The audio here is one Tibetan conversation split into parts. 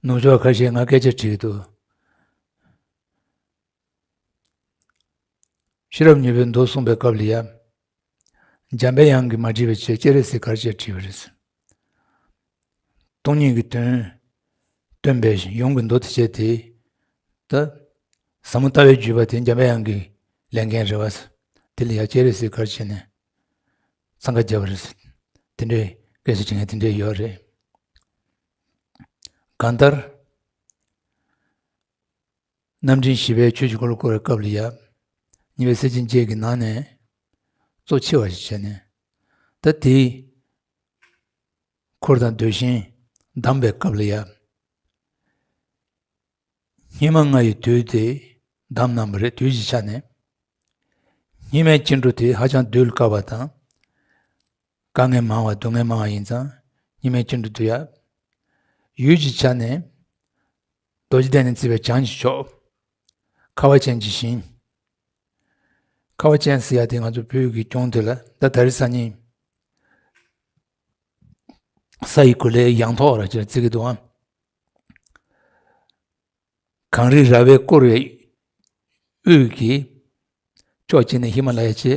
ནུབ་ཕྱོགས་ཁ་ཤས་ང་སྐད་ཆ་དྲིས་འདུག་ཤེས་རབ་ཉུལ་བའི་མདོ་གསུངས་པའི་སྐབས་ལ་ཡབ་འཇམ་དཔལ་དབྱངས་ཀྱིས་མ་དྲིས་པའི་ཆེད་ཀྱེ་རེ་སི་གར་བྱས་དྲིས་པ་རེད། སྟོང་ཉིད་ཀྱི་དོན་སྟོན་པའི་གཞུང་གི་མདོ་དེ་བྱས་དེ་ད་ཟབ་མོ་ལྟ་བའི་བརྒྱུད་པ་དེ་འཇམ་དཔལ་དབྱངས་ཀྱིས་ལེན་མཁན་རེད་བ། དེ་ལ་ཡ་ཀྱེ་རེ་སི་གར་བྱས་ནས་འཚང་ཁ་རྒྱབ་པ་རེད། དེ་འདྲའི་སྐད་ཆ་དྲི་ངན་དེ་འདྲས་ཡོད་རེད། གང་ལྟར། རྣམ་འདྲེན་བཞི་པས་ཆོས་ཀྱི་འཁོར་ལོ་བསྐོར་བའི་སྐབས་ལ་ཡབ་གཉིས་པའི་སེར་ཆེན་བརྒྱད་ཀྱི་ནང་ནས་གཙོ་ཆེ་བ་ཞིག་བྱས་ནས། ད་དེའི་འཁོར་དང་ཟློས་ཤིང་བསྡམས་པའི་སྐབས་ལ་ཡབ། སྙིགས་མ་ལྔ་ཡི་དུས་དེ་འདམ་ནག་མོ་རེད་དུས་ཀྱི་ཆ་ནས་སྙིགས་མའི་སྐྱེ་འགྲོ་དེ་ཧ་ཅང་གདུལ་དཀའ་བ་དང་དཀའ་ངལ་མང་བ་སྡུག་བསྔལ་མང་བ་ཡིན་ཙང་སྙིགས་མའི་སྐྱེ་འགྲོ་དུས་ཡབ་ཡུལ་གྱི་ཆ་ནས་རྡོ་རྗེ་གདན་ནས་བརྩིས་པའི་བྱང་གི་ཕྱོགས་ཁ་བ་ཅན་གྱི་ཞིང་ཁ་བ་ཅན་ཟེར་ཡ་དེ་ང་ཚོ་བོད་ཀྱི་སྐྱོང་དེ་ལ་ད་ད་རི་ས་གཉིས་ས་ཡི་གུ་ལའི་ཡང་ཐོག་ར་ཅེས་བརྩི་གི་འདུག་ཨང། གངས་རི་ར་བས་བསྐོར་བའི་དབུས་ཀྱི་ཕྱོགས་གཅིག་ནས་ཧི་མ་ལ་ཡའི་ཆེ་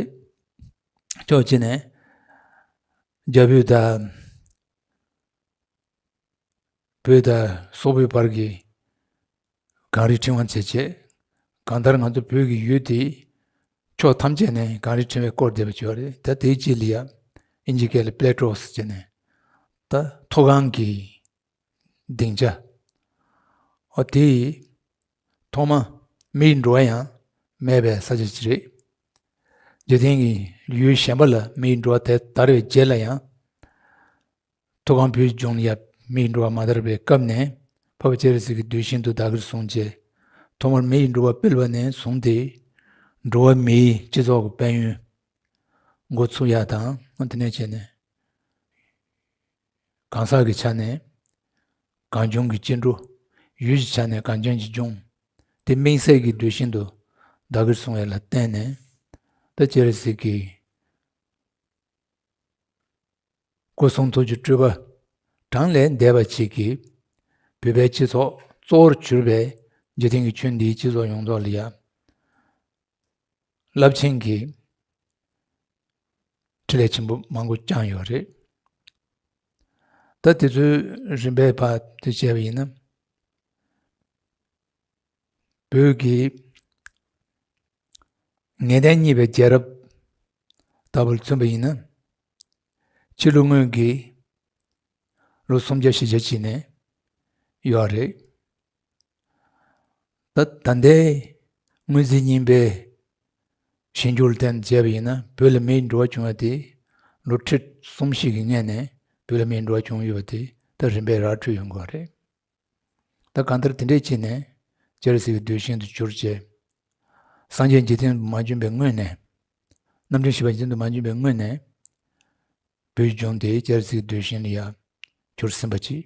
ཕྱོགས་གཅིག་ནས་རྒྱ་བོད་དང་བོད་དང་སོག་པོའི་བར་གྱི་གངས་རི་ཕྲེང་བ་མཛེས་བྱེད་གང་ལྟར་ང་ཚོ་བོད་ཀྱི་ཡུལ་དེའི་ཕྱོགས་ཐམས་ཅད་ནས་གངས་རི་ཕྲེང་བས་བསྐོར་བསྡད་པ་བྱུང་བ་རེད་ད་དེའི་རྗེས་ལི་ཡ་ཨིན་ཇི་སྐད་ལ Plateaus ཅེས་ནས་ད་མཐོ་སྒང་གི་སྡིངས་ཆ། འོ་དེ་ཡིས། ཐོག་མ་མི་ཡི་འགྲོ་བ་ཡང་མེད་པའི་ས་ཆ་ཅི་རེད། འཇིག་རྟེན་གྱི་ཡུལ་གཞན་པ་ལ་མི་ཡི་འགྲོ་བ་དེ་དར་བའི་རྗེས་ལ་ཡང། ཐུ་གང་བོད་ལྗོངས་ཡབ་མི་ཡི་འགྲོ་བ་མ་དར་བའི་སྐབས་ནས་ཕ་བོ་ཅེ་རེ་སི་གི་དུས་བཞིན་དུ་བདག་གིར་བཟུང་རྗེས། ཐོག་མར་མི་ཡི་འགྲོ་བ་སྤེལ་བ་ནས་བཟུང་སྟེ། འགྲོ་བ་མིའི་སྤྱི་ཚོགས་ཀྱི་དཔལ་ཡོན་འགོ་ཚུགས་ཡག་དང་དེ་ནས་བྱས་ནས། གང་ཟག་གི་ཆ་ནས་གང་བྱུང་གི་སྐྱེ་འགྲོ། ཡུལ་གྱི་ཆ་ནས་གང་བྱུང་གི་འབྱུང། དེ་དམིགས་བསལ་གྱི་འགྲོས་ཤིན་ཏུ་བདག་གིར་བཟུང་བས་ལ་བརྟེན་ནས་ད་ཅེར་གཟིགས་ཀྱི། སྐུ་གསུང་ཐུགས་ཀྱི་སྤྲུལ་པ་བགྲང་ལས་འདས་པ་གཅིག་གིས་བུད་པའི་སྤྱི་ཚོགས་གཙོ་བོར་གྱུར་པའི་འཇིག་རྟེན་གྱི་ཆོས་འདིའི་སྤྱི་ཚོགས་ཡོངས་རྫོགས་ལ་ཡང། རླབས་ཆེན་གྱི་ཁྲི་ལས་ཆེན་པོ་མང་པོ་བསྐྱངས་ཡོད་རེད་ད་དེ་ཚོའི་རིམ་པའི་བར་དུ་བྱས་པ་ཡིན་ན་བོད་ཀྱི་ངེས་གཏན་གཉིས་པའི་རྒྱལ་རབས་ལྟ་བུར་མཚོན་པ་ཡིན་ན་ཕྱི་ལོ་སྔོན་གྱི་ལོ་སུམ་བརྒྱ་བཞི་བརྒྱ་བྱས་ནས་ཡོད་རེད་ད་ལྟའི་དངོས་རྫས་རྙིང་པའི་ཞན་འགྱུར་ལ་བརྟེན་ནས་བྱས་པ་ཡིན་ན་བོད་ལ་མིའི་འགྲོ་བ་བྱུང་བ་དེ་ལོ་ཁྲི་གསུམ་བཞི་གི་སྔས་ནས་བོད་ལ་མིའི་འགྲོ་བ་བྱུང་ཡོད་པ་དེ་ད་རིམ་པས་རགས་ཁྲོལ་ཡོང་གི་བ་རེད། ད་གང་ལྟར་དེ་འདྲས་བྱས་ནས་ཇི་ལ་སྲིད་ཀྱི་རྡུལ་ཤིན་ཏུ་གྱུར་བཅས་སངས་རྒྱས་འཇིག་རྟེན་དུ་མ་བྱོན་པའི་སྔོན་ནས། རྣམ་འདྲེན་བཞི་པ་འཇིག་རྟེན་དུ་མ་བྱོན་པའི་སྔོན་ནས། བོད་ལྗོངས་དེ་ཇི་ལ་སྲིད་ཀྱི་རྡུལ་ཤིན་ལ་ཡ་གྱུར་ཟིན་པ་ཅིག་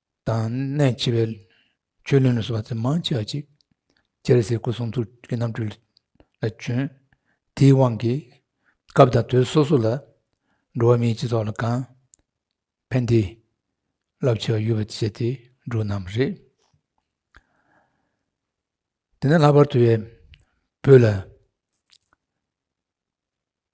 དང་གནད་ཆེ་བའི་ཆོས་བློན་ལ་སོགས་པ་ཚད་མང་ཆེ་བ་ཅིག་སྤྱིར་གཟིགས་སྐུ་གསུང་ཐུགས་ཀྱི་རྣམ་འཕྲུལ་ལ་བྱོན། དེའི་དབང་གིས་སྐབས་དང་དུས་སོ་སོ་ལ་འགྲོ་བ་མིའི་སྤྱི་ཚོགས་ལ་གང་ཕན་བདེ་རླབས་ཆེ་བ་ཡོད་པར་བྱས་ཏེ་འགྲོ་རྣམས་རེད། དེ་ནས་ལྷག་པར་དུ་བོད་ལ་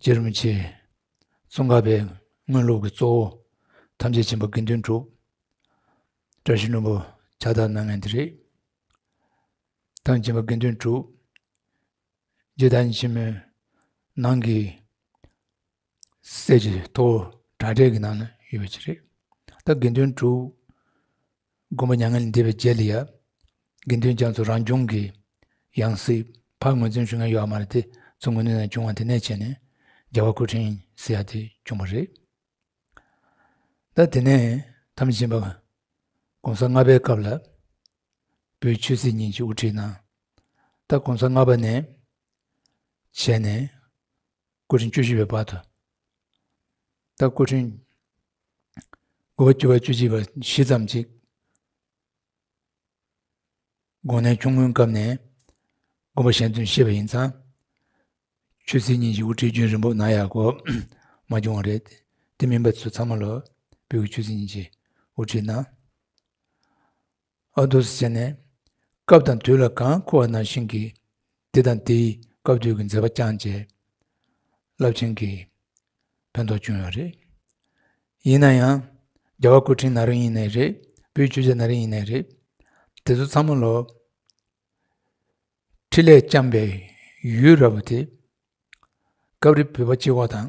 རྗེ་རིན་པོ་ཆེ། ཙོང་ཁ་པའི་དངོས་ལུགས་ཀྱི་གཙོ་བོ། ཐམས་ཅད་ཆེན་པོ་དགེ་འདུན་གྲུབ། བཀྲ་ཤིས་ནོར་བུ་ཕྱག་བདག་སྣང་ངན་དེ་རེད། ཐང་ཆེན་པོ་དགེ་འདུན་གྲུབ། རྗེ་བདག་ཉིད་ཆེན་མོའི་ནང་གི། གསེར་གྱི་ཐོ་བོ་དྲ་གྲས་ཀྱི་ནང་ན་ཡོད་པ་ཅིག་རེད། ད་དགེ་འདུན་གྲུབ། མགོན་པོ་མྱ་ངན་ལས་འདས་པའི་རྗེས་ལ་ཡ། དགེ་འདུན་རྒྱ་མཚོ་རང་བྱུང་གི། ཡང་སྲིད་ཕག་ངོས་འཛིན་ཞུ་མཁན་ཡོད་བ་མ་རེད་དེ་ཚོ་ངོས་ནས་ནས་བྱུང་བ་དེ་ནས་བྱས་ནས་རྒྱ་བ་སྐུ་ཕྲེང་སི་ཡ་དེ་བྱུང་བ་རེད་ད་དེ་ནས་དམ་བཞིན་པ ྋགོང་ས་ལྔ་པའི་སྐབས་ལ་པོའི་ཆོས་སྲིད་གཉིས་ཀྱི་དབུ་ཁྲིད་གནང་ད ྋགོང་ས་ལྔ་པ་ནས་བྱས་ནས་སྐུ་ཕྲེང་བཅུ་བཞི་པའི་བར་དུ་ད་སྐུ་ཕྲེང་དགུ་བ་བཅུ་བ་བཅུ་གཅིག་པ་བཞི་ཙམ་ཅིག་དགོངས་གནད་ཆུང་ངུའི་སྐབས་ནས་དགོངས་པ་གཞན་དོན་ཤེས་པ་ཡིན་ཙང་ཆོས་ཚིག་གཉིས་ཀྱི་དབུ་ཁྲིད་རྒྱུན་རིང་པོ་གནང་ཡག་གོ་མ་བྱུང་བ་རེད་དེ་མིན་པ་ཚོ་ཚང་མ་ལོ་བོད་ཀྱི་ཆོས་ཚིག་གཉིས་ཀྱི་དབུ་ཁྲིད་གནང། ཨ་དུ་ཟེར་ནས། སྐབས་དང་དུས་ལ་གང་མཁོ་བ་ནང་བཞིན་གྱིས་འདི་དང་འདི་ཡིས་སྐབས་དུས་ཀྱི་མཛད་པ་བསྐྱངས་རྗེས། རླབས་ཆེན་གྱི་ཕན་ཐོགས་བྱུང་ཡོད་རེད། ཡིན་ན་ཡང། རྒྱ་བ་སྐུ་ཕྲེང་ན་རིང་ཡིན་ནའི་རེད་བོད་བརྒྱུད་ཆ་ན་རིང་ཡིན་ནའི་རེད། དེ་ཚོ་ཚང་མ་ལོག། ཁྲི་ལས་བསྐྱངས་པའི་ཡུལ་ར་བ་དེ། སྐབས་རེ་བོད་པ་སྤྱི་ཁོག་དང།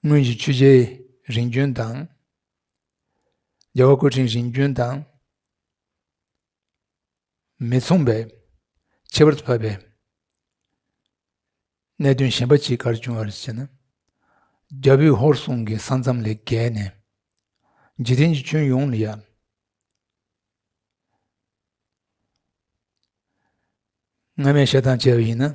སྔོན་གྱི་ཆོས་རྗེ་རིན་རྒྱུན་དང། རྒྱལ་བ་སྐུ་ཕྲེང་རིན་རྒྱུན་དང་མི་མཚུངས་པའི་ཁྱད་པར་དུ་བབས་པའི་གནད་དོན་གཞན་པ་གཅིག་གར་བྱུང་བར་བྱས་ན། རྒྱ་བོད་ཧོར་གསུམ་གྱི་ས་མཚམས་ལས་བརྒལ་ནས་འཇིག་རྟེན་གྱི་ཁྱོན་ཡོངས་ལ་ཡང། སྔ་མའི་བཤད་སྟངས་སྤྱད་པ་ཡིན་ན།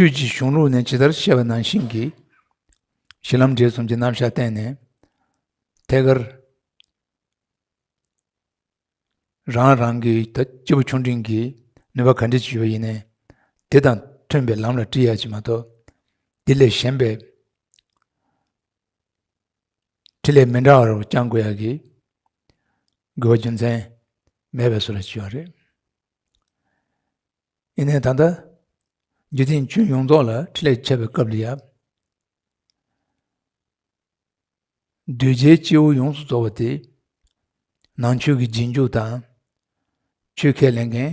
ཆོས་ཀྱི་གཞུང་ལུགས་ནས་ཇི་ལྟར་བཤད་པ་ནང་བཞིན་གྱི་གཞི་ལམ་འབྲས་གསུམ་གྱི་རྣམ་གཞག་བསྟན་ནས་ཐད་ཀར་རང་རང་གི་སྐྱེས་བུ་ཆུང་འབྲིང་གི་ནུས་པ་ག་འདྲས་ཀྱི་ཡོད་ཡིན་ནའི་དེ་དང་མཐུན་པའི་ལམ་ལ་བཀྲི་ཡ་གཅིག་མ་གཏོགས་དེ་ལས་གཞན་པའི་ཁྲི་ལས་མི་འདའ་བར་བསྐྱང་དགོས་ཡག་གི། དགོས་པ་རྒྱུ་མཚན་མེད་པའི་སོ་ལ་བྱིལ་བ་རེད། ཡིན་ནའི་ད་ལྟ་རྒྱུ་མཚན་ཁྱོད་ཡོངས་རྫོགས་ལ་ཁྲི་ལས་ཁྱབ་པའི་སྐབས་ལ་ཡབ། གདུལ་བྱའི་སྐྱེ་བོ་ཡོངས་སུ་རྫོགས་པ་དེ། ནང་ཆོས་ཀྱི་རྗེས་འཇུག་དང། ཆོས་ཁས་ལེན་མཁན།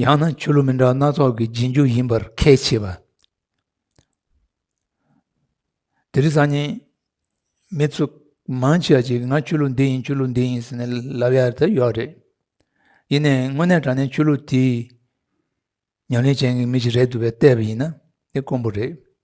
ཡང་ན་ཆོས་ལུགས་མི་འདྲ་བ་སྣ་ཚོགས་ཀྱི་རྗེས་འཇུག་ཡིན་པར་ཁས་འཆེས་པ། དེ་རིང་སང་ཉིན་མི་ཚོ་མང་ཆེ་བ་ཞིག་ང་ཆོས་ལུགས་འདི་ཡིན་ཆོས་ལུགས་འདི་ཡིན་ཟེར་ནས་ལབ་ཡ་དེ་ཡོད་རེད། ཡིན་ནའི་དངོས་གནས་དྲང་བདེན་ཆོས་ལུགས་དེའི་ཉམས་ལེན་ཅན་གྱི་མི་ཞིག་རེད་འདུག་པས་བལྟས་པ་ཡིན་ན་དེ་དཀོན་པོ་རེད།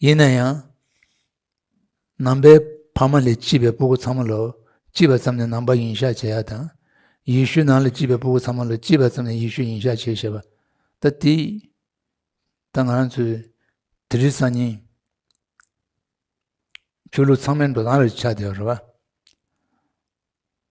ཡིན་ན་ཡང་ནང་པའི་ཕ་མ་ལས་སྐྱིད་པའི་སྤུ་གུ་ཚང་མ་ལོ་སྐྱིད་པ་ཙམ་ནས་ནང་པ་ཡིན་ཤག་བྱེད་ཡ་དང་ཡེ་ཤུ་ནང་ལ་སྐྱིད་པའི་སྤུ་གུ་ཚང་མ་ལོ་སྐྱིད་པ་ཙམ་ནས་ཡེ་ཤུ་ཡིན་ཤག་བྱེད་ཞེས་པ་ད་དེ་ད་ང་རང་ཚོའི་དེ་རིང་སང་ཉིན་ཆོས་ལུགས་ཚང་མའི་འགྲོ་སྟངས་རེད་ཆགས་བསྡད་པ་རེད་བ།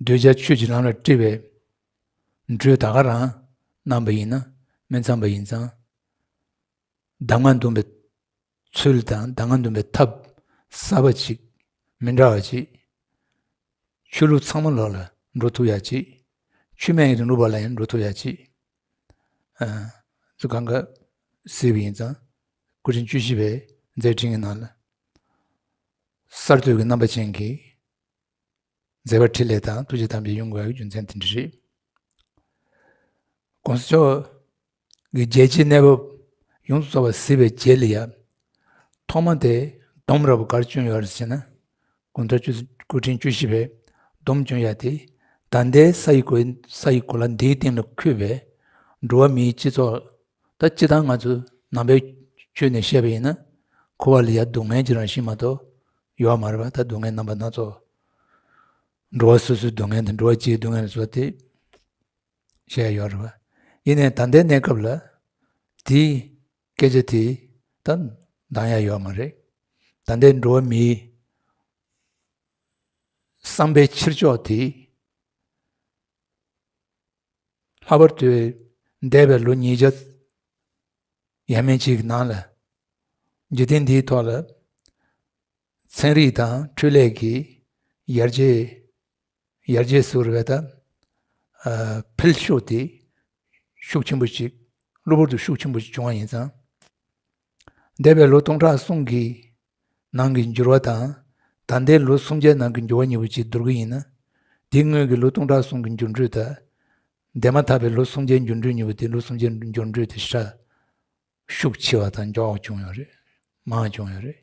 འདོད་ཆགས་ཆོས་ཀྱི་ལམ་ལ་སྤྲེལ་བའི་འགྲོས་ད་ག་རང་རྣམས་པ་ཡིན་ན་སྨད་ཙམ་པ་ཡིན་ཙང་གདམས་ངག་འདོན་པའི་ཚུལ་དང་གདམས་ངག་འདོན་པའི་ཐབས་གསར་པ་ཅིག་མི་འདྲ་བ་ཅིག་ཆོས་ལུགས་ཚང་མ་ལོག་ལ་འགྲོ་ཐུབ་ཡ་ཅིག་ཆོས་སྨད་ཡིན་རུང་ལུགས་པ་ལ་ཡང་འགྲོ་ཐུབ་ཡ་ཅིག་ཚུལ་གང་ག་ཟེར་བ་ཡིན་ཙང་སྐུ་ཕྲེང་བཅུ་བཞི་པའི་མཛད་འཕྲིན་གྱི་ནང་ལ་གསར་གཏོད་ཀྱི་རྣམ་པ་ཅན་གྱི་མཛད་པ་ཕྲིན་ལས་དང་ཐུགས་རྗེ་དམ་པའི་དབྱིངས་དགོངས་པའི་རྒྱུ་མཚན་དེ་འདྲ་རེད། ྋགོང་ས་མཆོག་གིས་རྒྱལ་སྤྱིའི་གནས་བབ་ཡོངས་སུ་རྫོགས་པ་གཟིགས་པའི་རྗེས་ལ་ཡང་ཐོག་མ་དེ་སྡོམ་རབ་གར་བྱོན་ཡོད་རེད་ཟེར་ན་དགུང་གྲངས་བཅུ་དགུ་ཕྲེང་བཅུ་བཞི་པའི་སྡོམ་བྱོན་ཡག་དེ་ད་ལྟའི་ས་ཡི་གོ་ལ་འདིའི་སྟེང་ལ་འཁོད་པའི་འགྲོ་བ་མིའི་སྤྱི་ཚོགས་ད་སྤྱི་དང་ང་ཚོས་ནང་པའི་ཆོས་ནས་བཤད་པ་ཡིན་ན་ཁུ་བ་ལི་ཡ་སྡུག་བསྔལ་གྱི་རང་བཞིན་མ་གཏོགས་ཡོད་བ་མ་རེད་པ་ད་སྡུག་བསྔལ་རྣམ་པ་སྣ་ཚོགས་འགྲོ་བ་སོ་སོའི་སྡུག་བསྔལ་དང་འགྲོ་བ་སྤྱིའི་སྡུག་བསྔལ་སོགས་དེ་བཤད་ཡོད་རེད་པ་ཡིན་ནའི་ད་ལྟའི་གནས་སྐབས་ལ་དེའི་སྐད་ཆ་དེ་ད་འདང་ཡ་ཡོད་མ་རེད་ད་ལྟའི་འགྲོ་བ་མིའི་བསམ་པའི་ཕྱིར་ཕྱོགས་དེ། ལྷག་པར་དུ་འདས་པའི་ལོ་ཉིས་བརྒྱ་ཡས་མས་ཀྱི་ནང་ལ་འཇིག་རྟེན་འདིའི་ཐོག་ལ་ཚན་རིག་དང་འཕྲུལ་ལས་ཀྱི་ཡར་རྒྱས་ཡར་རྒྱས་སུ་རེ་བ་ད་འཕེལ་ཤུགས་དེ་ཤུགས་ཆེན་པོ་ཞིག་གློ་བུར་དུ་ཤུགས་ཆེན་པོ་ཞིག་བྱུང་བ་ཡིན་ཙང། འདས་པའི་ལོ་སྟོང་ཕྲག་གསུམ་གྱི་ནང་གི་འགྱུར་བ་དང་ད་ལྟའི་ལོ་སུམ་བརྒྱའི་ནང་གི་འགྱུར་བ་གཉིས་པོ་གཅིག་བསྡུར་གྱི་ཡིན་ན་དེའི་སྔོན་གྱི་ལོ་སྟོང་ཕྲག་གསུམ་གྱི་འགྱུར་འགྲོས་དང་འདས་མ་ཐག་པའི་ལོ་སུམ་བརྒྱའི་འགྱུར་འགྲོས་གཉིས་པོ་དེ་ལོ་སུམ་བརྒྱའི་འགྱུར་འགྲོས་དེ་ཧྲལ་ཤུགས་ཆེ་བ་དང་མགྱོགས་བྱུང་ཡོད་རེད་མང་བྱུང་ཡོད་རེད་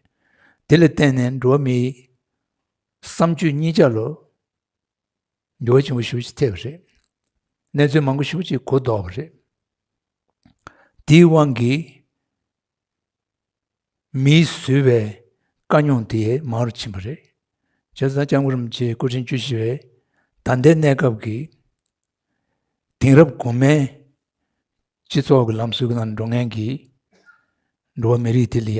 དེ་ལ་བརྟེན་ནས་འགྲོ་བ་མིའི་བསམ་སྤྱོད་གཉིས་ཆ་ལོ་འགྱུར་བ་ཆེན་པོ་ཤུགས་ཀྱིས་ཐེབས་པ་རེད། གནས་ཚུལ་མང་པོ་ཤུགས་ཀྱིས་གོ་ལྡོག་པ་རེད། དེའི་དབང་གིས་མིས་བཟོས་པའི་དཀའ་རྙོག་དེ་མང་རུ་ཕྱིན་པ་རེད། བྱས་ཙང་ལྕམ་སྐུ་རིན་པོ་ཆེ་སྐུ་ཕྲེང་བཅུ་བཞི་བའི་ད་ལྟའི་གནས་སྐབས་ཀྱི་དེང་རབས་གོང་མའི་སྤྱི་ཚོགས་ཀྱི་ལམ་སྲོལ་གྱི་ནང་འགྲོ་མཁན་གྱི་འགྲོ་བ་མི་རིགས་དེ་ལ་ཡ་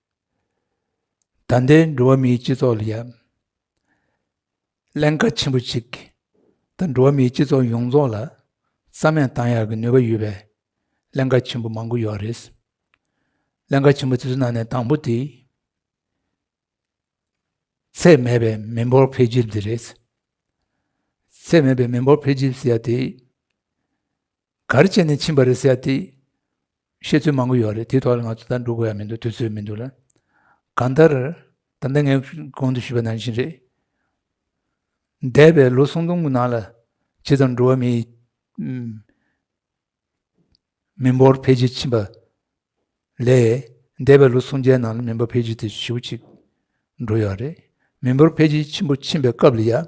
ད་ལྟའི་འགྲོ་བ་མིའི་སྤྱི་ཚོགས་ལ་ཡང་ཀླན་ཀ་ཆེན་པོ་ཅིག་དང་འགྲོ་བ་མིའི་སྤྱི་ཚོགས་ཡོངས་རྫོགས་ལ་རྩ་མེད་བཏང་ཡག་གི་ནུས་པ་ཡོད་པའི་ཀླན་ཀ་ཆེན་པོ་མང་པོ་ཡོད་རེད། ཀླན་ཀ་ཆེན་པོ་དེ་ཚོའི་ནང་ནས་དང་པོ་དེ། ཚད་མེད་པའི་མི་འབོར་འཕེལ་འགྱུར་འདི་རེད། ཚད་མེད་པའི་མི་འབོར་འཕེལ་འགྱུར་ཟེར་ཡ་དེ། ག་རེ་བྱས་ནས་ཕྱིན་པ་རེད་ཟེར་དེ་བཤད་ཚུལ་མང་པོ་ཡོད་རེད་དེའི་ཐོག་ལ་ང་ཚོ་ད་འགྲོ་དགོས་ཡ་མི་འདུག་དུས་ཚོད་མི་འདུག་ལ་གང་ལྟར་ད་ལྟ་ངས་གོང་དུ་ཞུས་པ་ནང་བཞིན་རེད། འདས་པའི་ལོ་སུམ་སྟོང་གི་ནང་ལ་ཇི་ཙམ་འགྲོ་བ་མིའི་མི་འབོར་འཕེལ་རྒྱས་ཕྱིན་པ་ལས་འདས་པའི་ལོ་སུམ་བརྒྱའི་ནང་ལ་མི་འབོར་འཕེལ་རྒྱས་དེ་ཞེ་བོ་གཅིག་འགྲོ་ཡོད་རེད། མི་འབོར་འཕེལ་རྒྱས་ཆེན་པོ་ཕྱིན་པའི་སྐབས་ལ་ཡ།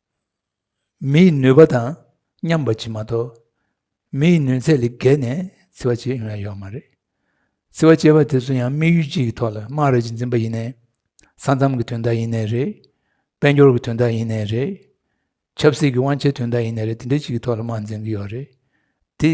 མིའི་ནུས་པ་དང་མཉམ་པ་གྱིས་མ་གཏོགས་མིའི་ནུས་ཚད་ལས་བརྒལ་ནས་བརྩི་བ་བྱེད་ཡོང་ཡ་ཡོད་མ་རེད། བརྩི་བ་བྱེད་པ་དེ་ཚོ་ཡང་དམིགས་ཡུལ་གཅིག་གི་ཐོག་ལ་དམངས་རེ་གཅིག་འཛིན་པ་ཡིན་ནའི། ས་མཚམས་ཀྱི་དོན་དག་ཡིན་ནའི་རེད། དཔལ་འབྱོར་གྱི་དོན་དག་ཡིན་ནའི་རེད། ཆབ་སྲིད་ཀྱི་དབང་ཆའི་དོན་དག་ཡིན་ནའི་རེད་དེ་འདྲའི་གཅིག་གི་ཐོག་ལ་དམངས་འཛིན་གྱི་ཡོད་རེད་དེ།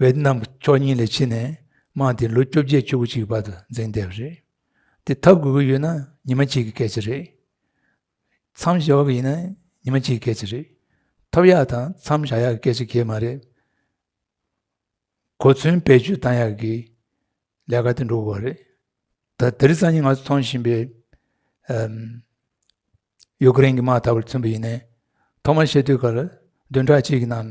ཝེ་ཏི་ནམ་གྱི་ཕྱོགས་གཉིས་ལས་ཕྱི་ནས་དམག་དེ་ལོ་བཅོ་བརྒྱད་བཅུ་དགུ་གཅིག་བར་དུ་འཛིང་བསྡད་པ་རེད། དེ་ཐབས་དགོས་ཀྱི་ཡོད་ན་ཉི་མ་གཅིག་གི་སྐད་ཆ་རེད། མཚམས་བཞག་དགོས་ཀྱི་ཡིན་ན་ཉི་མ་གཅིག་གི་སྐད་ཆ་རེད། ཐབས་ཡག་དང་མཚམས་བཞག་ཡག་གི་སྐད་ཆ་གལ་མ་རེད། གོ་མཚོན་བེད་སྤྱོད་བཏང་ཡག་གི་ལས་ཀ་དེ་འགྲོ་དགོས་པ་རེད། ད་དེ་རིང་སང་ཉིན་ང་ཚོ་མཐོང་བཞིན་པའི་ཡུཀ་རེན་གྱི་དམག་འཐབ་བར་མཚོན་པ་ཡིན་ནའི་ཐོག་མར་བཤད་དུས་སྐར་བདུན་ཕྲག་གཅིག་གི་ནང་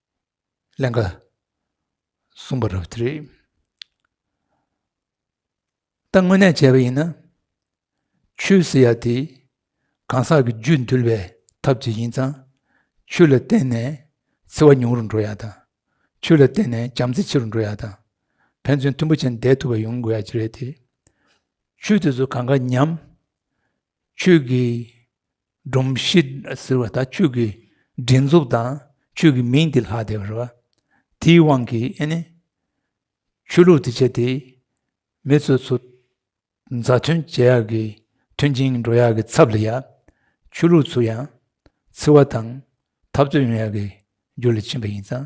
ཀླན་ཀ་གསུངས་པ་རབ་བདེ་རེད། ད་དངོས་གནས་བྱས་པ་ཡིན་ན་ཆོས་ཟེར་ཡ་དེ་གང་ཟག་གི་རྒྱུད་འདུལ་བའི་ཐབས་ཅིག་ཡིན་ཙང་ཆོས་ལ་བརྟེན་ནས་འཚེ་བ་ཉུང་རུ་འགྲོ་ཡ་དང་ཆོས་ལ་བརྟེན་ནས་བྱམས་བརྩེ་ཆེ་རུ་འགྲོ་ཡ་དང་ཕན་ཚུན་མཐུན་པོ་ཆེ་འདས་ཐུབ་པ་ཡོང་དགོས་ཡ་གྱི་རེད་དེ། ཆོས་དེ་ཚོ་གང་ག་ཉམས། ཆོས་ཀྱི་སྒྲོམ་གཞི་ཟེར་བ་ད་ཁྱོད་ཀྱི་སྒྲིག་འཛུགས་དང་ཁྱོད་ཀྱི་མིང་དེ་ལྷག་བསྡད་པ་རེད་བ། དེའི་དབང་གིས་ཨེ་ནི། ཆོས་ལུགས་དེ་བྱས་ཏེ་མི་ཚོས་ཚོ་མཛའ་མཐུན་བྱེད་ཡག་གི་མཐུན་ཅིང་འགྲོ་ཡག་གི་ཚབ་ལ་ཡ། ཆོས་ལུགས་ཚོ་ཡང་འཚེ་བ་དང་འཐབ་རྩོད་ཡོང་ཡག་གི་རྒྱུ་ལ་ཕྱིན་པ་ཡིན་ཙང།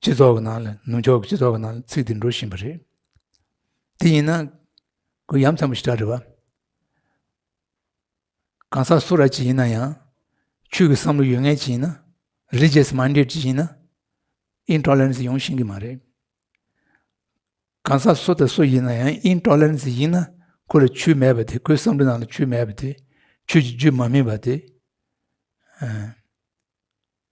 སྤྱི་ཚོགས་ཀྱི་ནང་ལ་ནུབ་ཕྱོགས་ཀྱི་སྤྱི་ཚོགས་ཀྱི་ནང་ཚིག་འདི་འགྲོ་བཞིན་པ་རེད་དེ་ཡིན་ན་གུ་ཡམ་ཚན་པོ་ཞིག་གྲགས་རེད་བ། གང་ཟག་སུ་ར་གཅིག་ཡིན་ན་ཡང་ཆོས་ཀྱི་བསམ་བློ་ཡོད་ངེས་ཅིག་ཡིན་ན Religious Minded ཅིག་ཡིན་ན Intolerance ཡོང་བཞིན་གྱི་མ་རེད། གང་ཟག་སུ་དང་སུ་ཡིན་ན་ཡང Intolerance ཡིན་ན་ཁོ་ལ་ཆོས་མེད་པ་དེ་ཁོའི་བསམ་བློའི་ནང་ལ་ཆོས་མེད་པ་དེ་ཆོས་ཀྱི་རྒྱུད་མ་སྨིན་པ་དེ།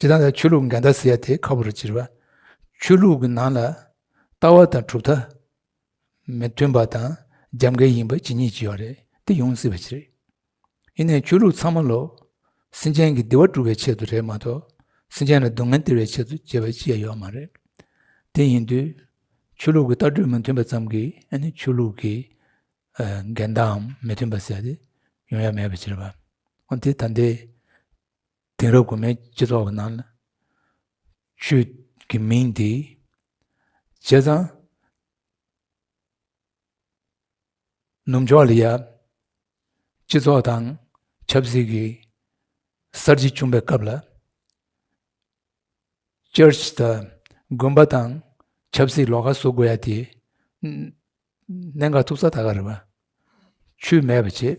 ཇི་ལྟར་ན་ཆོས་ལུགས་འགལ་ཟླ་ཟེར་དེ་ཁ་བོ་རུ་བྱེར་བ། ཆོས་ལུགས་ཀྱི་ནང་ལ་ལྟ་བ་དང་གྲུབ་མཐའ་མི་མཐུན་པ་དང་རྒྱབ་འགལ་ཡིན་པ་ཇི་སྙེད་ཅིག་ཡོད་རེད་དེ་ཡོང་སྲིད་པ་ཅི་རེད། ཡིན་ནའི་ཆོས་ལུགས་ཚང་མ་ལོ། སེམས་ཅན་གྱི་བདེ་བ་སྒྲུབ་པའི་ཆེད་དུ་རེད་མ་གཏོགས་སེམས་ཅན་ལ་སྡུག་བསྔལ་སྟེར་བའི་ཆེད་དུ་བྱེད་པ་ཅི་ཡང་ཡོད་མ་རེད། དེ་ཡིན་དུས་ཆོས་ལུགས་ཀྱི་ལྟ་གྲུབ་མི་མཐུན་པ་ཙམ་གྱིས་ཨ་ནི་ཆོས་ལུགས་ཀྱི་འགལ་ཟླའམ་མི་མཐུན་པ་ཟེར་དེ་ཡོང་ཡ་མེད་པ་ཅི་རེད་བ། འོན་ཏེ་ད་ལྟའི། དེང་རབས་དགོན་མའི་སྤྱི་ཚོགས་ཀྱི་ནང་ལ། ཆོས་ཀྱི་མིང་འདི་བྱས་ཙང། ནུབ་ཕྱོགས་ལ་ཡང་སྤྱི་ཚོགས་དང་ཆབ་སྲིད་ཀྱི་གསར་བརྗེ་བྱུང་པའི་སྐབས་ལ། Church དང་དགོན་པ་དང་ཆབ་སྲིད་ལོགས་ཀ་བཟོ་དགོས་ཡ་དེ། གནད་འགག་ཐུག་ས་ད་ག་རེད་བ། ཆོས་མེད་པ་བྱེད།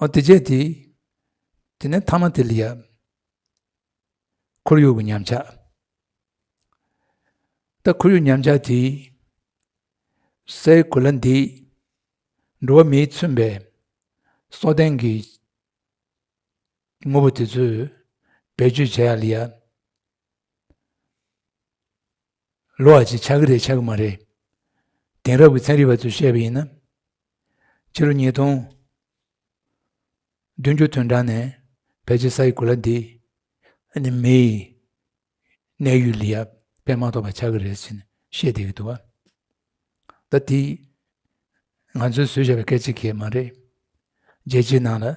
ཨོ་དེ་རྗེས་དེ། དེ་ནས་ཐ་མ་དེ་ལ་ཡབ། ཁོར་ཡུག་གི་ཉམས་ཆག། ད་ཁོར་ཡུག་ཉམས་ཆག་དེ། སའི་གོ་ལ་འདི། འགྲོ་བ་མིའི་མཚོན་པའི། སྲོག་ལྡན་གྱི། དངོས་པོ་དེ་ཚོས་བེད་སྤྱོད་བྱས་ཡ་ལ་ཡབ། ལོག་ཅིག་ཆགས་ཀྱི་རེད་ཆགས་ཀྱི་མ་རེད། དེང་རབས་ཀྱི་ཚན་རིག་པ་ཚོས་བཤད་པ་ཡིན་ན། ཕྱི་ལོ་ཉིས་སྟོང་བདུན་ཅུ་དོན་གྲངས་ནས་བལ་གྱི་ས་ཡི་གོ་ལ་འདི་ནི་མི་ཡི་གནས་ཡུལ་ལས་ཡར་འཕེལ་མ་ཐོབ་པ་ཆགས་ཀྱི་རེད་ཅེས་བཤད་བསྡད་ཀྱི་འདུག་ད་དེ་ང་ཚོས་བཟོས་བྱས་པའི་སྐད་ཅིག་གིས་མ་རེད། རྒྱལ་སྤྱིའི་ནང་ལ་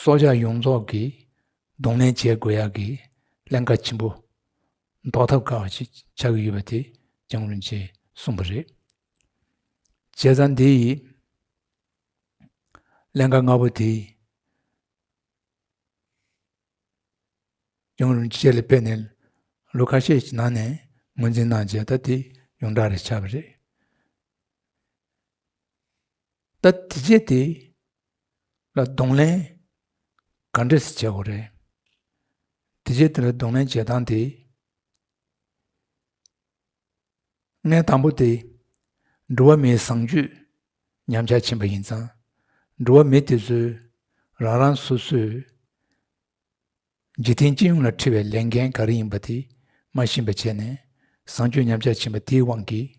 སྲོག་ཆགས་ཡོངས་རྫོགས་ཀྱི་གདོང་ལེན་བྱེད་དགོས་ཡག་གི་ཀླན་ཀ་ཆེན་པོ་ཟློག་ཐབས་དཀའ་བ་ཞིག་ཆགས་ཀྱི་ཡོད་པ་དེ་ཅང་རུང་ཅེས་གསུངས་པ་རེད། བྱས་ཙང་དེ་ཡི་ཀླན་ཀ་ལྔ་པོ་དེ་ཅང་རུང་ཅེས་ལས་སྤེལ་ནས་ལོ་ཁ་ཤས་ཀྱི་ནང་ནས་ངོས་འཛིན་གནང་རྗེས་ད་དེ་ཡོངས་གྲགས་རེ་ཆགས་པ་རེད། ད་དེ་རྗེས་དེ་ལ་གདོང་ལེན་ག་འདྲས་བྱེད་དགོས་རེད། དེ་རྗེས་དེ་ལ་གདོང་ལེན་བྱེད་སྟངས་དེ། ངས་དང་པོ་དེ་འགྲོ་བ་མིའི་བཟང་སྤྱོད་ཉམས་ཆག་ཕྱིན་པ་ཡིན་ཙང་འགྲོ་བ་མི་དེ་ཚོས་རང་རང་སོ་སོས་འཇིག་རྟེན་སྤྱི་ཡོངས་ལ་འཁྲི་བའི་ལས་འགན་ག་རེ་ཡིན་པ་དེ་མ་ཤེས་པ་བྱས་ནས་བཟང་སྤྱོད་ཉམས་ཆག་ཕྱིན་པ་དེའི་དབང་གིས།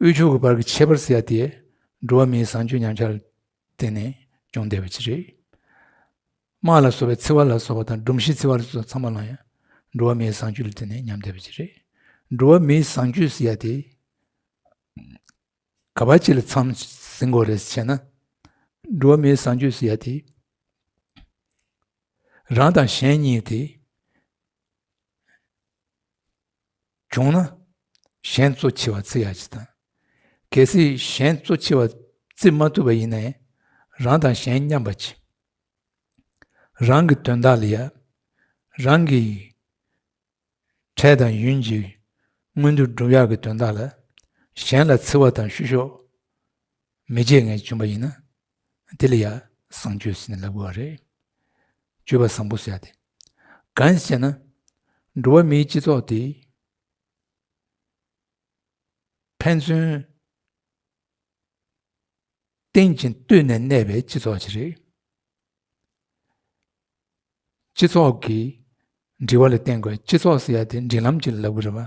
དབུལ་ཕྱུག་གི་བར་གྱི་ཁྱད་པར་སེལ་ཡ་དེ་འགྲོ་བ་མིའི་བཟང་སྤྱོད་ཉམས་ཆག་ལ་བརྟེན་ནས་བྱུང་བསྡད་པ་ཅི་རེད། དམག་ལ་སོགས་པའི་འཚེ་བ་ལ་སོགས་པ་དང་སྒྲོམ་གཞི་འཚེ་བ་ལ་སོགས་ཚང་མ་ལ་ཡང་འགྲོ་བ་མིའི་བཟང་སྤྱོད་ལ་བརྟེན་ནས་ཉམས་བསྡད་པ་ཅི་རེད། འགྲོ་བ་མིའི་བཟང་སྤྱོད་ཟེར་ཡ་དེ་ག་བ་ཅི་ལ་འཚམས་ཟིན་དགོས་རེད་ཟེར་ན། འགྲོ་བ་མིའི་བཟང་སྤྱོད་ཟེར་ཡ་དེ་རང་དང་གཞན་གཉིས་དེ། བྱུང་ན་གཞན་གཙོ་ཆེ་བ་བརྩི་ཡག་ཅི་དང། གལ་སྲིད་གཞན་གཙོ་ཆེ་བ་བརྩི་མ་ཐུབ་པ་ཡིན་ན་རང་དང་གཞན་མཉམ་པ་གྱིས་རང་གི་དོན་དག་ལ་ཡ་རང་གིས་འཕྲལ་དང་ཡུན་གྱི་སྔོན་དུ་སྒྲུབ་ཡག་གི་དོན་དག་ལ་གཞན་ལ་བརྩི་བ་དང་བཤུ་གཞོག་མི་བྱེད་ངེས་བྱུང་པ་ཡིན་ན་དེ་ལ་ཡང་བཟང་སྤྱོད་ཟེར་ནས་ལབ་དགོས་པ་རེད། སྤྱོད་པ་བཟང་པོ་བྱ་སྟེ། གང་ཞེ་ན། འགྲོ་བ་མིའི་སྤྱི་ཚོགས་དེ། ཕན་ཚུན་རྟེན་ཅིང་བསྟུན་ནས་གནས་པའི་སྤྱི་ཚོགས་ཤིག་རེད། སྤྱི་ཚོགས་ཀྱི་འབྲེལ་བ་ལ་བརྟེན་དགོས་སྤྱི་ཚོགས་ཟེར་ཡ་དེ་འབྲེལ་ལམ་ཅིག་ལ་ལབ་དགོས་རེད་པ།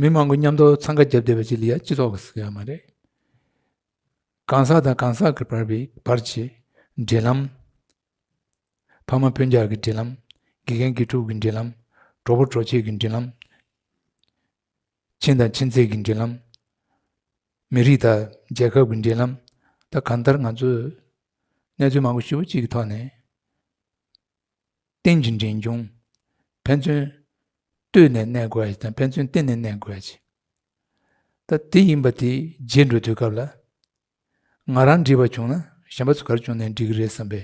མི་མང་པོ་མཉམ་དུ་འཚང་ཁ་བརྒྱབ་བསྡད་པ་ཅིག་ལ་ཡང་སྤྱི་ཚོགས་ཀྱི་ཟེར་ཡག་མ་རེད། གང་ཟག་དང་གང་ཟག་གི་བར་བའི་བར་གྱི་འབྲེལ་ལམ། ཕ་མ་བུ་འཇགས་ཀྱི་འབྲེལ་ལམ། དགེ་རྒན་དགེ་ཕྲུག་གི་འབྲེལ་ལམ། གྲོགས་པོ་གྲོགས་མཆེད་ཀྱི་འབྲེལ་ལམ། ཁྱིམ་དང་ཁྱིམ་མཚེས་ཀྱི་འབྲེལ་ལམ། མི་རིགས་དང་རྒྱལ་ཁབ་ཀྱི་འབྲེལ་ལམ། ད་གང་ལྟར་ང་ཚོས་གནས་ཚུལ་མང་པོ་ཞིབ་པོ་གཅིག་གི་ཐོག་ནས། གཏན་གྱི་འབྲིང་ཆུང། ཕན་ཚུན་ལྟོས་ནས་གནས་དགོས་དང་ཕན་ཚུན་བརྟེན་ནས་གནས་དགོས། ད་དེ་ཡིན་པ་དེ་རྗེས་འགྲོ་དུས་སྐབས་ལ། ང་རང་འདྲིས་པ་བྱུང་ན་གཞན་པ་ཚོ་གར་བྱུང་ནས་འདྲིས་གི་རེད་བསམ་པའི་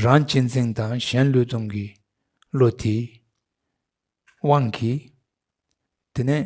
རང་གཅེས་འཛིན་དང་གཞན་བསླུས་གཏོང་གི་བློ་དེའི་དབང་གིས། དེ་ནས་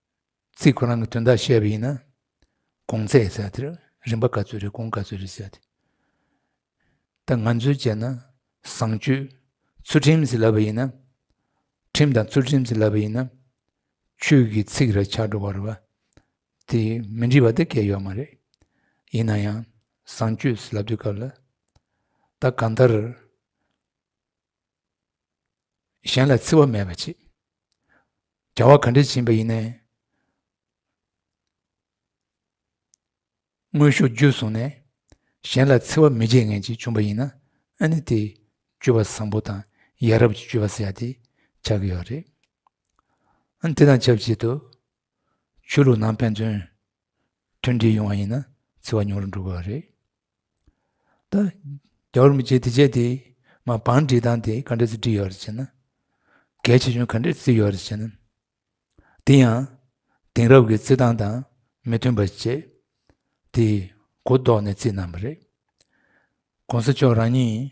ཚིག་ཁོ་རང་གི་དོན་དག་བཤད་པ་ཡིན་ན་གོང་ཚད་ཟེར་དེར་རིན་པ་ག་ཚོད་རེད་གོང་ག་ཚོད་རེད་ཟེར་དེ་ད་ང་ཚོས་བྱས་ན་བཟང་སྤྱོད་ཚུལ་ཁྲིམས་ཟེར་ལབ་པ་ཡིན་ན་ཁྲིམས་དང་ཚུལ་ཁྲིམས་ཟེར་ལབ་པ་ཡིན་ན་ཆོས་ཀྱི་ཚིག་ར་ཆགས་འགྲོ་བ་རེད་བ་དེ་མི་འགྲིག་པ་དེ་སྐད་ཡོད་མ་རེད་ཡིན་ན་ཡང་བཟང་སྤྱོད་ཟེར་ལབ་དུས་སྐབས་ལ་ད་གང་ལྟར་གཞན་ལ་འཚེ་བ་མེད་པར་བྱེད། བྱ་བ་ག་འདྲའི་བྱིན་པ་ཡིན་ནས། དངོས་ཤུགས་བརྒྱུད་བཟུང་ནས་གཞན་ལ་འཚེ་བ་མི་བྱེད་མཁན་ཅིག་བྱུང་བ་ཡིན་ན་ཨ་ནི་དེ་སྤྱོད་པ་བཟང་པོ་དང་ཡ་རབས་ཀྱི་སྤྱོད་པ་ཟེར་ཡ་དེ་ཆགས་ཀྱི་ཡོད་རེད། ཨ་ནི་དེ་དང་ཆབས་ཅིག་ཏུ། ཆོས་ལུགས་ནང་ཕན་ཚུན་མཐུན་འབྲེལ་ཡོང་བ་ཡིན་ན་འཚེ་བ་ཉུང་རུ་འགྲོ་དགོས་པ་རེད། ད་རྒྱ་བོར་མི་བྱེད་དེ་བྱེད་དེ་མ་བང་སྒྲིག་སྟངས་དེ་ག་འདྲས་སུ་བསྒྲིགས་ཡོད་རེད་ཅེ་ན། གལ་ཆེ་ཆུང་ག་འདྲས་བརྩིས་ཡོད་རེད་ཅེ་ན། དེ་ཡང་དེང་རབས་ཀྱི་བརྩི་སྟངས་དང་མི་མཐུན་པ་བྱས་དེ་གོ་ལྡོག་ནས་བརྩིས་གནང་བ་རེད། གོང་ས་མཆོག་རང་ཉིད་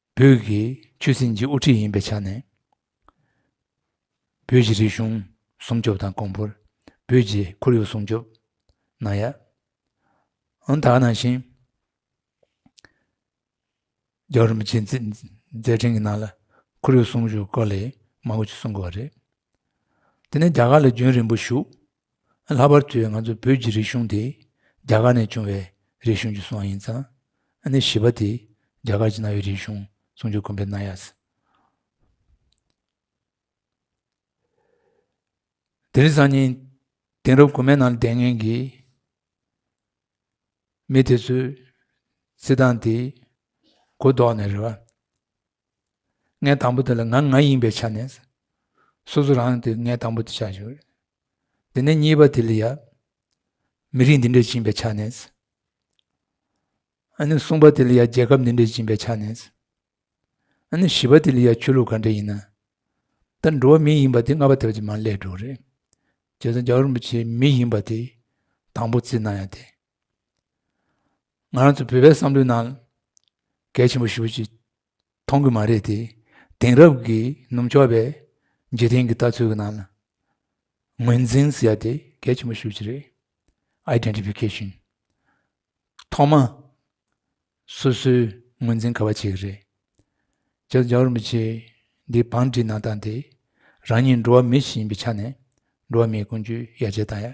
བོད་ཀྱི་ཆོས་སྲིད་ཀྱི་དབུ་ཁྲིད་ཡིན་པའི་ཆ་ནས། བོད་ཀྱི་རིག་གཞུང་སྲུང་སྐྱོབ་དང་གོང་བུར་བོད་ཀྱི་ཁོར་ཡུག་སྲུང་སྐྱོབ་གནང་ཡ། ཨང་དག་ནང་བཞིན། རྒྱ་རིམ་གྱི་མཛད་འཕྲིན་གྱི་ནང་ལ་ཁོར་ཡུག་སྲུང་ཞུ་སྐོར་ལས་མང་པོ་ཞིག་གསུང་དགོས་པ་རེད། དེ་ནས་རྒྱ་གར་ལ་རྒྱུན་རིང་པོ་བཞུགས། ལྷག་པར་དུ་ང་ཚོ་བོད་ཀྱི་རིག་གཞུང་དེ་རྒྱ་གར་ནས་བྱུང་བའི་རིག་གཞུང་གྱི་སྲོག་ཡིན་ཙང་ནི་བྱིས་པ་དེས་རྒྱ་གར་གྱི་གནའ་བོའི་རིག་གཞུང་སྲུང་སྐྱོབ་གོམས་པའི་གནང་ཡག་སྲིད། དེ་རིང་སང་ཉིན་དེང་རབས་དགོན་མའི་ནང་ལྡན་མཁན་གྱི་མི་དེ་ཚོས་རྩིས་ཐང་དེ་གོ་ལྡོག་ནས་རེད་བ། ངའི་དང་པོ་དེ་ལ་ང་ང་ཡིན་པའི་ཆ་ནས་སོ་སོ་རང་དེ་ངའི་དང་པོ་དེ་ཆགས་ཞོར་དེ་ནས་གཉིས་པ་དེ་ལ་ཡང་མི་རིགས་འདི་འདྲས་བཅིངས་པའི་ཆ་ནས་ཨ་ནི་གསུམ་པ་དེ་ལ་ཡང་རྒྱལ་ཁབ་འདི་འདྲས་བཅིངས་པའི་ཆ་ནས་ཨ་ནི་བཞི་པ་དེ་ལ་ཡང་ཆོས་ལུགས་ག་འདྲས་ཡིན་ན་ད་འགྲོ་བ་མི་ཡིན་པ་དེ་ལྔ་པ་དེ་བ་ཅིག་མ་ལས་འགྲོ་རེད་རྗེ་བཙུན་རྒྱ་གར་རིན་པོ་ཆེ་མི་ཡིན་པ་དེ་དང་པོ་བརྩི་ན་ཡང་དེ་ང་རང་ཚོ་བོད་པའི་བསམ་བློའི་ནང་གལ་ཆེན་པོ་ཞིག་ཅིག་མཐོང་གི་མ་རེད་དེ་དེང་རབས་ཀྱི་ནུབ་ཕྱོགས་པའི་འཇིག་རྟེན་གྱི་ལྟ་ཚུལ་གྱི་ནང་ལ་ངོས་འཛིན་ཟེར་ཡ་དེ་གལ་ཆེན་པོ་ཞིག་ཅིག་རེད Identification ཐོག་མ་སོ་སོའི་ངོས་འཛིན་ག་བ་བྱེད་ཀྱི་རེད་བྱས་ཙང་རྒྱ་གར་མི་ཆེ་འདིའི་བང་སྒྲིག་གནང་སྟངས་དེ་རང་ཉིད་འགྲོ་བ་མི་ཞིག་ཡིན་པའི་ཆ་ནས་འགྲོ་བ་མིའི་ཀུན་སྤྱོད་ཡར་རྒྱས་བཏང་ཡ་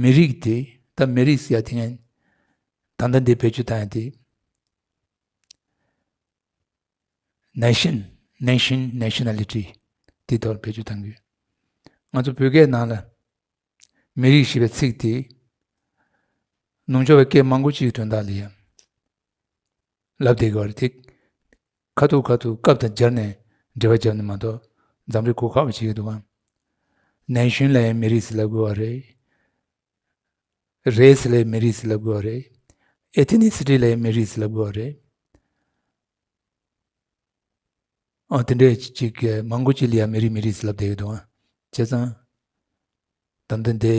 མི་རིགས་དེ་ད་མི་རིགས་ཟེར་ཡ་དེ་ངས་ད་ལྟ་འདི་བེད་སྤྱོད་བཏང་ཡ་དེ Nation Nation Nationality དེ་དོར་བེད་སྤྱོད་བཏང་གི་ང་ཚོ་བོད་སྐད་ནང་ལ་མི་རིགས་ཞེས་པའི་ཚིག་དེ་ནུབ་ཕྱོགས་པའི་སྐད་མང་པོ་ཅིག་དོན་དག་ལ་ཡང་ལབ་བསྡད་གི་བ་རེད་དེ་ཁ་ཐུག་ཁ་ཐུག་སྐབས་དང་སྦྱར་ནས་འབྲེལ་བ་བརྒྱབ་ནས་མ་གཏོགས་འཛམ་རིག་གོ་ཁ་བ་ཞིག་གི་འདུག་གམ། ནན་ཞུན་ལའེ་མི་རིགས་སི་ལ་གོ་བ་རེད། རེས་སི་ལའེ་མི་རིགས་སི་ལ་གོ་བ་རེད། ཨེ་ཐི་ནི་སི་ཏི་ལའེ་མི་རིགས་སི་ལ་གོ་བ་རེད། ཨོ་དེ་འདྲའི་ཅིག་གི་མང་གོ་ཅི་ལི་ཡ་མི་རིགས་མི་རིགས་སི་ལ་བསྡད་གི་འདུག་གམ། བྱས་ཙང། དམ་དེ་འདི།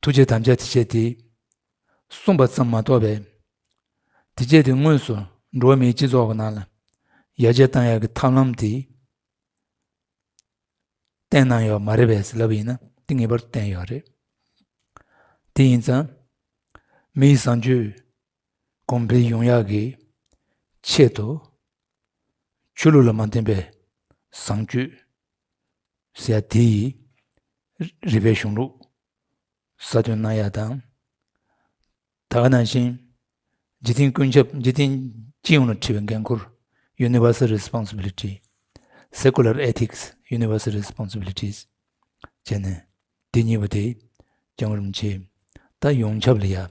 ཐུགས་རྗེ་དམ་བཅའ་དེ་སྐྱེད་དེ། གསུངས་པ་ཙམ་མ་གཏོགས་པའི། དེ་སྐྱེད་དེ་དངོས་སུ་འགྲོ་བ་མིའི་སྤྱི་ཚོགས་ཀྱི་ནང་ལ་ཡར་རྒྱས་བཏང་ཡག་གི་ཐབས་ལམ་དེ་བསྟན་གནང་ཡོད་མ་རེད་བས་ཟེར་ལབ་ཡིན་ན་དེ་ངེས་པར་དུ་བསྟན་ཡོད་རེད་དེ་ཡིན་ཙང། མི་ཡི་བཟང་སྤྱོད་གོང་འཕེལ་ཡོང་ཡག་གི་ཆེད་དུ། ཆོས་ལུགས་ལ་མ་བརྟེན་པའི་བཟང་སྤྱོད། ཟེར་ཡ་དེ་ཡིས་རིག་པའི་གཞུང་ལུགས་གསར་གཏོད་གནང་ཡག་དང། ད་ག་ནང་བཞིན་འཇིག་རྟེན་ཀུན་ཁྱབ་འཇིག་རྟེན་སྤྱི་ཡོངས་ལ་འཁྲི་བའི་འགན་ཁུར། Universal Responsibility། Secular Ethics Universal Responsibilities། བྱས་ནས་འདི་གཉིས་པོ་དེ་རྐྱང་རུམ་བྱས་ད་ཡོངས་ཁྱབ་ལ་ཡག་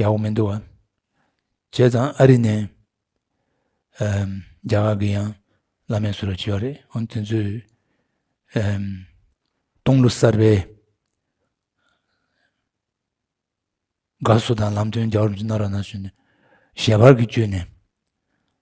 ཡག་པོ་མི་འདུག་བ། བྱས་ཙང་ཨ་རི་ནས་རྒྱ་གར་གི་ཡང་བླ་མས་གསོད་རོགས་བྱས་པ་རེད་འོན་དེ་ཚོས་སྟོང་ལོ་གསར་པའི་དགའ་བསུ་དང་ལམ་སྟོན་རྒྱག་རོགས་མཆི་ན་ར་ན་བྱོན་ནས་ཞལ་པར་གྱི་བཅོས་ནས་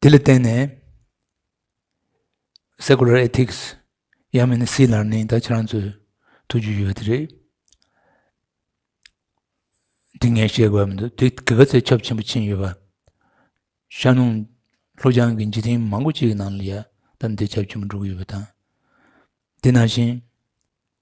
དེ་ལ་བརྟེན་ནས Secular Ethics ཡང་མིན་ན Sea Learning དག་ཁྱེད་རང་ཚོས་ཐུགས་རྒྱུས་ཡོད་དེ་རེད། འདི་ངས་བཤད་དགོས་པ་མི་འདུག་དེ་གི་ག་ཚད་ཁྱབ་ཆེན་པོ་ཕྱིན་ཡོད་པ། ཤར་ནུབ་ལྷོ་བྱང་གི་འཇིག་རྟེན་མང་པོ་ཅིག་གི་ནང་ལ་ཡ་ད་འདི་ཁྱབ་ཆེན་པོ་འགྲོ་གི་ཡོད་པ་དང། དེ་ནང་བཞིན་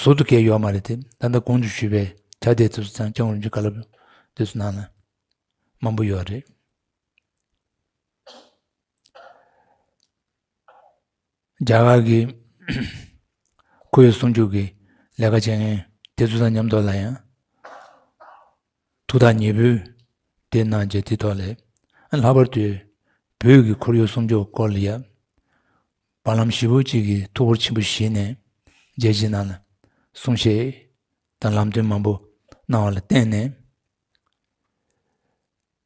ཟུར་དུ་བཀལ་ཡོད་མ་རེད་དེ་ད་ལྟ་གོང་དུ་ཞུས་པའི་དྲ་དེའི་དུས་སུ་ཚང་སྐྱོང་རིམ་གྱི་བཀའ་སློབ་དུས་སུ་ནང་ལ་མང་པོ་ཡོད་རེད། རྒྱ་གར་གྱི་ཁོ་ཡི་གསུང་རྒྱུགས་ཀྱི་ལས་ཀ་བྱེད་མཁན་དེ་ཚོ་དང་མཉམ་འདོར་ལ་ཡང། ཐུགས་ཐག་ཉེ་བོས་དེ་གནང་རྗེས་དེའི་ཐོག་ལས་ལྷག་པར་དུ་བོད་ཀྱི་ཁོར་ཡུག་སྲུང་སྐྱོབ་སྐོར་ལ་ཡབ་བར་ལམ་བཞི་བོ་གཅིག་གིས་ཐུགས་ཁུར་ཆེན་པོ་བཞེས་ནས་རྒྱལ་སྤྱིའི་ནང་ལ་གསུང་བཤད་དང་ལམ་སྟོན་མང་པོ་གནང་བ་ལ་བརྟེན་ནས།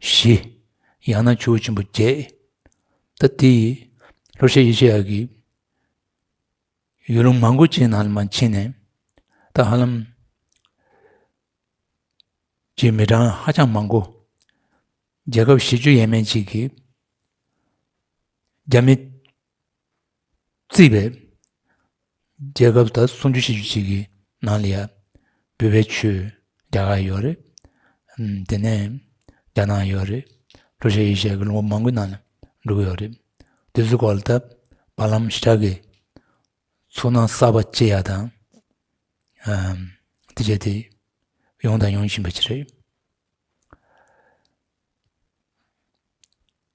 བཞི། ཡང་ན་ཆུ་བོ་ཆེན་པོ་བརྒྱད། ད་དེ་ཡི་ལྷོར་ཤའི་ཡེ་ཤེས་ཡབ་ཀྱི་ཡུལ་ལུང་མང་པོ་ཅན་ན་མ་ཕྱིན་ནས་ད་ཧ་ལམ་གྱི་མི་གྲངས་ཧ་ཅང་མང་པོ་རྒྱལ་ཁབ་བཞི་བཅུ་ཡས་མས་གཅིག་གི་རྒྱ་མི་བརྩིས་པས། རྒྱལ་ཁབ་ད་སུམ་ཅུ་ཞེ་བཅུ་གཅིག་གི་ནང་ལ་ཡ། འབུལ་བའི་ཆུ། རྒྱ་གར་ཡོད་རེད། དེ་ནས། རྒྱ་ནག་ཡོད་རེད། ཀྲུ་ཤ་ཡེ་ཤ་གི་ལུང་པ་མང་པོའི་ནང་ལ་འབྲུ་གུ་ཡོད་རེད། དེ་ཚོའི་སྐོར་ལ་ད་བར་ལམ་ཞི་དྲག་གིས། ཚུར་སྣང་གསར་པ་སྐྱེ་ཡག་དང། དེ་བྱས་དེ། ཡོང་དང་ཡོང་བཞིན་པ་ཅི་རེད།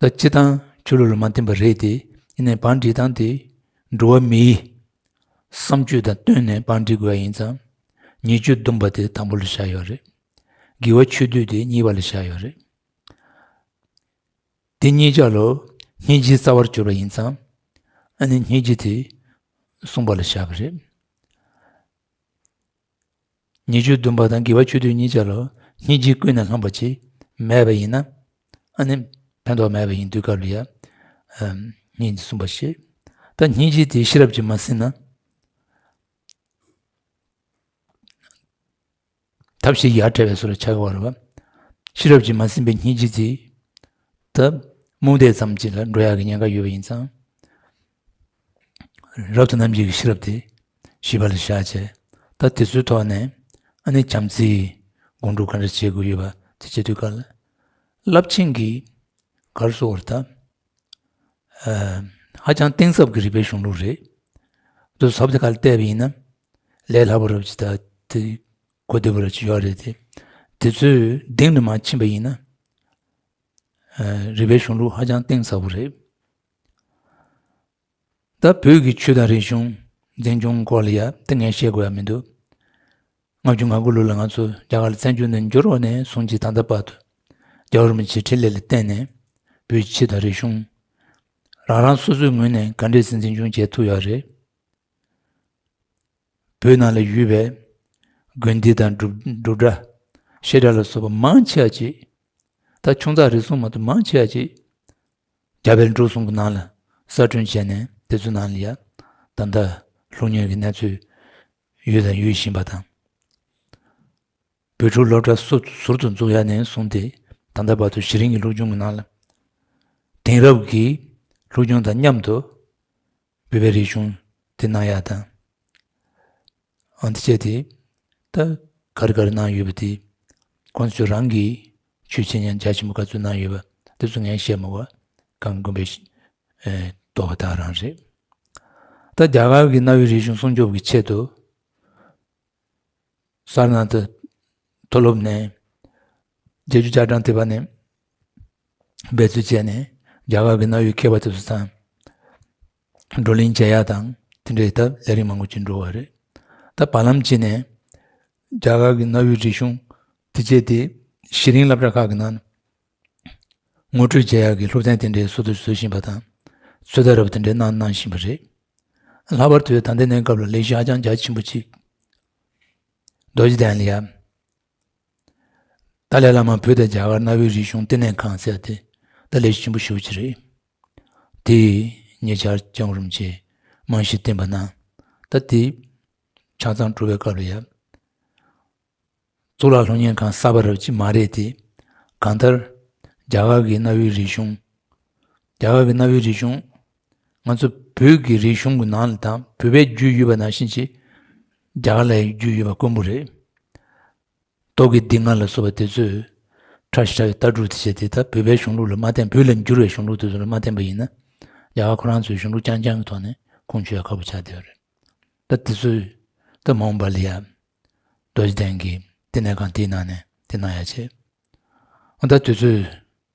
ལ་སྤྱི་དང་ཆོས་ལུགས་ལ་མ་བརྟེན་པ་རེད་དེ་ཡིན་ནའི་བང་སྒྲིག་སྟངས་དེ་འགྲོ་བ་མིའི་བསམ་སྤྱོད་དང་བསྟུན་ནས་བང་སྒྲིག་དགོས་པ་ཡིན་ཙང་ཉེས་སྤྱོད་བསྡོམས་པ་དེ་དང་པོ་ལ་བཞག་ཡོད་རེད་དགེ་བ་ཆོས་སྡུད་དེ་གཉིས་པ་ལ་བཞག་ཡོད་རེད། དེ་གཉིས་ཆ་ལོ་ཉེས་བྱས་རྩ་བར་གྱུར་པ་ཡིན་ཙང་ཨ་ནི་ཉེས་བྱས་དེ་བསྲུངས་པ་ལ་བཞག་གི་རེད། ཉེས་སྤྱོད་བསྡུམ་པ་དང་དགེ་བ་ཆོས་དུས་གཉིས་ཆར་ལོ་ཉིས་བརྒྱའི་ཀུན་ནས་ལྷོངས་པ་ཆེས་མེད་པ་ཡིན་ན། ཨ་ནི་ཕན་ཐོགས་མེད་པ་ཡིན་དུས་སྐབས་ལ་ཡང་གཉིས་གསུམ་པ་ཞེས་ད་ཉིས་བརྒྱའི་དེའི་ཤེས་རབ་ཀྱིས་མ་ཟིན་ན། ཐབས་ཤེས་ཡར་བྲལ་བའི་སོ་ལ་ཆགས་པ་རེད་བ། ཤེས་རབ་ཀྱིས་མ་ཟིན་པའི་ཉིས་བརྒྱའི་དེའི། ད་རྨོངས་དད་ཙམ་གྱིས་ལ་འགྲོ་ཡག་གི་ཉེན་ཁ་ཡོད་པ་ཡིན་ཙང། རབ་ཏུ་རྣམ་འབྱེད་ཀྱི་ཤེས་རབ་དེ་ཞིབ་པ་ལ་བཞག་བྱས་ལྟ་དེ་ཚོའི་ཐོག་ནས་ཨ་ནེ་བྱམས་བརྩེའི་དགོངས་དྲོ་ག་འདྲ་བྱེད་དགོས་ཡོད་པ་དེ་བྱེད་དུས་ག་རླབས་ཆེན་གྱི་གར་སོགས་བར་ཐག་ཧ་ཅང་གཏིང་ཟབ་ཀྱི་རིག་པའི་གཞུང་ལུགས་རེད་འདུག་ཟབ་དེ་ག་ལ་བལྟས་པ་ཡིན་ན་ལས་སླ་པོ་རབ་ཅིག་དང་དེ་གོ་བདེ་པོ་རབ་ཅིག་ཡོད་རེད་དེ་དེ་ཚོའི་གདིང་དུ་མ་ཕྱིན་པ་ཡིན་ན་རིག་པའི་གཞུང་ལུགས་ཧ་ཅང་གཏིང་ཟབ་པོ་རེད། ད་བོད་ཀྱི་ཆོས་དང་རིག་གཞུང་འཛིན་སྐྱོང་སྐོར་ལ་ཡག་ཏི་ངན་བཤད་དགོས་ཡ་མི་འདུག་ལྔ་བཅུ་ང་དགུ་ལོ་ལ་ང་ཚོ་རྒྱ་གར་ལ་བཙན་བྱོལ་ནས་འབྱོར་བ་ནས་བཟུང་སྤྱི་དང་ད་བར་དུ་རྒྱ་གར་མི་ཆེ་ཁྲི་ལས་ལ་བརྟེན་ནས་བོད་ཀྱི་ཆོས་དང་རིག་གཞུང་རང་རང་སོ་སོའི་ངོས་ནས་ག་འདྲས་སུ་འཛིན་སྐྱོང་བྱས་ཐུབ་ཡག་རེད། བོད་ནང་ལ་ཡོད་པའི་དགོན་སྡེ་དང་སྒྲུབ་གྲྭ་བཤད་གྲྭ་ལ་སོགས་པ་མང་ཆེ་བ་ཅིག་ད་ཆུང་ཙག་རེ་ཟུང་མ་གཏོགས་མང་ཆེ་བ་ཅིག་རྒྱ་བལ་འབྲུག་གསུམ་གྱི་ནང་ལ་གསར་སྐྲུན་བྱས་ནས་དེ་ཚོའི་ནང་ལ་ཡ་ད་མདའ་ལྷུག་ཉར་གྱི་གནས་ཚུལ་ཡོད་དང་ཡོད་བཞིན་པ་དང། བོད་ཕྲུག་སློབ་གྲྭ་སོ་ཟུར་དུ་འཛུགས་ཡ་ནས་བཟུང་སྟེ་ད་ལྟ་བར་དུ་གཞི་རིམ་གྱི་ལྷུག་སྦྱོང་གི་ནང་ལ་དེང་རབས་ཀྱི་ལྷུག་སྦྱོང་དང་མཉམ་དུ་བོད་པའི་རིག་གཞུང་དེ་གནང་ཡ་དང། འདི་བྱས་ཏེ། ད་གར་གར་གནང་ཡོད་པ་དེ། ཁོ་ཚོས་རང་གི་ཆོས་བྱེད་ཉམས་ཆག་ཆེན་པོ་ག་ཚོད་གནང་ཡོད་པ་དེ་ཚོ་ངས་བཤད་མ་བར་གང་དགོན་པའི་རྟོགས་པ་དག་རང་རེད། ད་རྒྱ་གར་གྱི་གནའ་བོའི་རིག་གཞུང་སྲུང་སྐྱོབ་ཀྱི་ཆེད་དུ། སཱར་ནཱ་ཐ་མཐོ་སློབ་ནས་རྒྱལ་རྒྱུ་བསྐྱར་དྲངས་ཐེབས་པ་ནས་འབད་རྩོལ་བྱས་ནས་རྒྱ་གར་གྱི་གནའ་བོའི་མཁས་པ་དེ་ཚོ་དང། བགྲོ་གླེང་མཇལ་ཡག་དང་དེ་འབྲེལ་ད་ལས་རིགས་མང་པོ་བྱེད་འགྲོ་བ་རེད་ད་བར་ལམ་གཅིག་ནས་རྒྱ་གར་གྱི་གནའ་བོའི་རིག་གཞུང་དེ་བཅས་དེ་གཞི་རིང་བསླབ་གྲྭ་ཁག་གི་ནང་ངོ་སྤྲོད་མཇལ་ཡག་གི་སློབ་ཚན་དེ་འདྲའི་བཟོ་དུ་བཟོ་བཞིན་པ་དང་ཚོད་ལྟ་རབ་དེ་འདྲའི་གནང་གནང་བཞིན་པ་རེད་ལྷག་པར་དུ་ད་ལྟའི་གནས་སྐབས་ལ་ལས་གཞི་ཧ་ཅང་རྒྱ་ཆེན་པོ་གཅིག་རྡོ་རྗེ་གདན་ལ་ཡ། ཏཱ་ལའི་བླ་མ་བོད་དང་རྒྱ་གར་གནའ་བོའི་རིག་གཞུང་བསྟི་གནས་ཁང་བཙལ་ཏེ་ཏཱ་ལའི་ཞིམ་པོ་ཞུ་བྱེད་རེད། དེས་ཉེ་ཆར་རྐྱང་རུམ་གྱི་རྨང་གཞི་བསྟན་པ་ན་ད་ལྟའི་ཆ་ཚང་གྲུབ་པའི་སྐབས་ལ་ཡབ་གཙུག་ལག་ལྷུན་གཉེར་ཁང་གསར་པ་རབ་ཅིག་མ་རེད་དེ། གང་ལྟར་རྒྱ་གར་གྱི་གནའ་བོའི་རིག་གཞུང། ང་ཚོ་བོད་ཀྱི་རིག་གཞུང་གི་ནང་ལ་དང་བོད་པའི་རྒྱུས་ཡོད་པ་ནང་བཞིན་གྱི་རྒྱ་གར་ལ་ཡང་རྒྱུས་ཡོད་པ་དཀོན་པོ་རེད། རྡོ་དགེ་སྡིག་བསྔལ་ལ་སོགས་པ་དེ་ཚོས་ཁྲ་ཞི་ཁྲ་གི་ལྟ་གྲུབ་དེ་བྱས་དེ་ད་བོད་པའི་གཞུང་ལུགས་ལ་མ་བརྟེན་བོད་ལ་འགྱུར་བའི་གཞུང་ལུགས་དེ་ཚོ་ལ་མ་བརྟེན་པ་ཡིན་ན་རྒྱ་གར་ཁོ་རང་ཚོའི་གཞུང་ལུགས་རྐྱང་རྐྱང་གི་ཐོག་ནས་ཁུངས་འཁྱོལ་ཡག་ཁག་པོ་ཆགས་བསྡད་པ་རེད། ད་དེ་ཚོས་ད་མོང་པ་ལི་ཡ། རྡོ་རྗེ་གདན་གྱིས་ལྟེ་གནས་ཁང་དེའི་ནང་ནས་དེ་གནང་ཡ་བྱས། ད་དེ་ཚོས།